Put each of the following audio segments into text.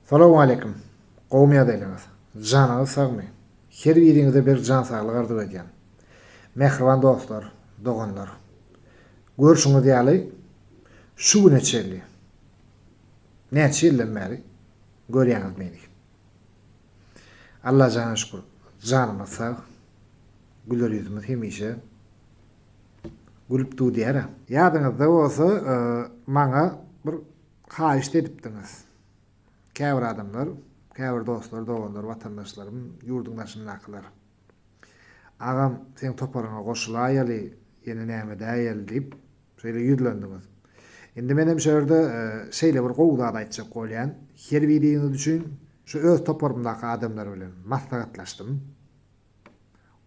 Salowmaleýkim. Gowymy ýagdaýlaryňyz? Janyňyz sagmy? Her biriňize berk jan saglyk arzuw edýän. Mähriban dostlar, doganlar. Görşüňiz ýaly, şu güne çenli, näçe ýyldan bäri görýäňiz meni. Allajana şükür, janymyz sag, güler ýüzümiz hemişe gülüp dudýär-ä. Ýadyňyzda bolsa, maňa bir Haýyşt edipdiňiz. Käbir adamlar, käbir dostlar, doganlar, watandaşlarym, ýurduň daşyndakylar. Agam, seň toparyňa goşulaýaly, ýene näme edäýeli diýip, şeýle ýüzlendiňiz. Indi menem şu ýerde şeýle bir gowy zat aýtjak bolýan. Herbiriňiz üçin şu öz toparymdaky adamlar bilen maslahatlaşdym.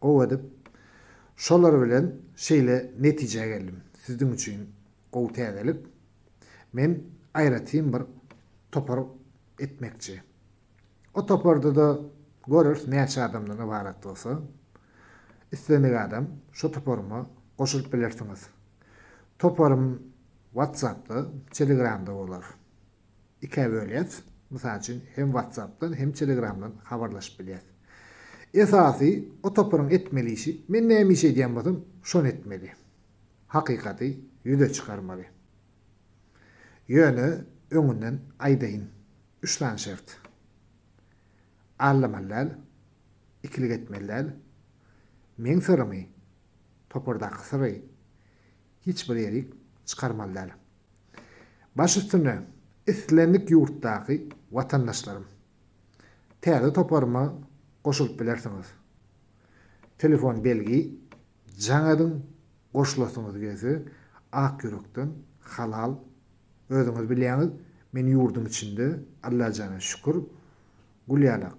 Gowy edip şolar bilen şeýle netijä geldim. Sizdiň üçin gowy täzelik. Men aýratyn bir topar etmekçi. O toparda-da göreris näçe adamdan ybarat bolsa. Islendik adam şo toparyma goşulyp bilersiňiz. Toparym WhatsApp-da, Telegram-da bolar. ikä bölýäs. Mysal üçin, hem WhatsApp-dan, hem Telegram-dan habarlaşyp bilýäs. Esasy, o toparyň etmeli işi, men näme iş edýän bolsam, şony etmeli. Hakykaty ýüze çykarmaly. Ýöne öňünden aýdaýyn, üç sany şert. Aldamaly däl, ikilik etmeli däl, meň syrymy, topardaky syry hiç bir ýerik çykarmaly däl. Baş üstüne, islendik ýurtdaky watandaşlarym! Täze toparyma goşulyp bilersiňiz. Telefon belgi jaň ediň goşulasyňyz gelse ak ýürekden halal özüňiz bilýäňiz men ýurduň içinde Allajana şükür gül ýalak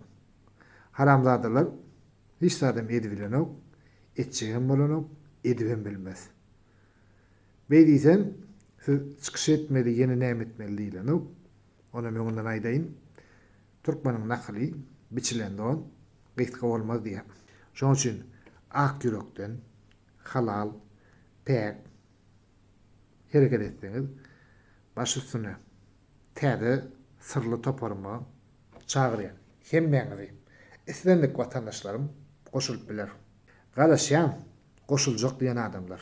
haramzadalar hiç zadam edibilenok etjegem bolanok edibem bilmez Beý diýsem, siz çykyş etmeli, ýene näme etmeli diýilenow. Onam öňünden aýdaýyn, türkmeniň nakyly, Biçilen don gysga bolmaz diýýär. Şonuň üçin ak ýürekden, halal, päk hereket etseňiz, baş üstüne täze syrly toparyma çagyrýan hemmäňizi, islendik watandaşlarym goşulyp biler. Garaşýan, goşuljak diýen adamlar.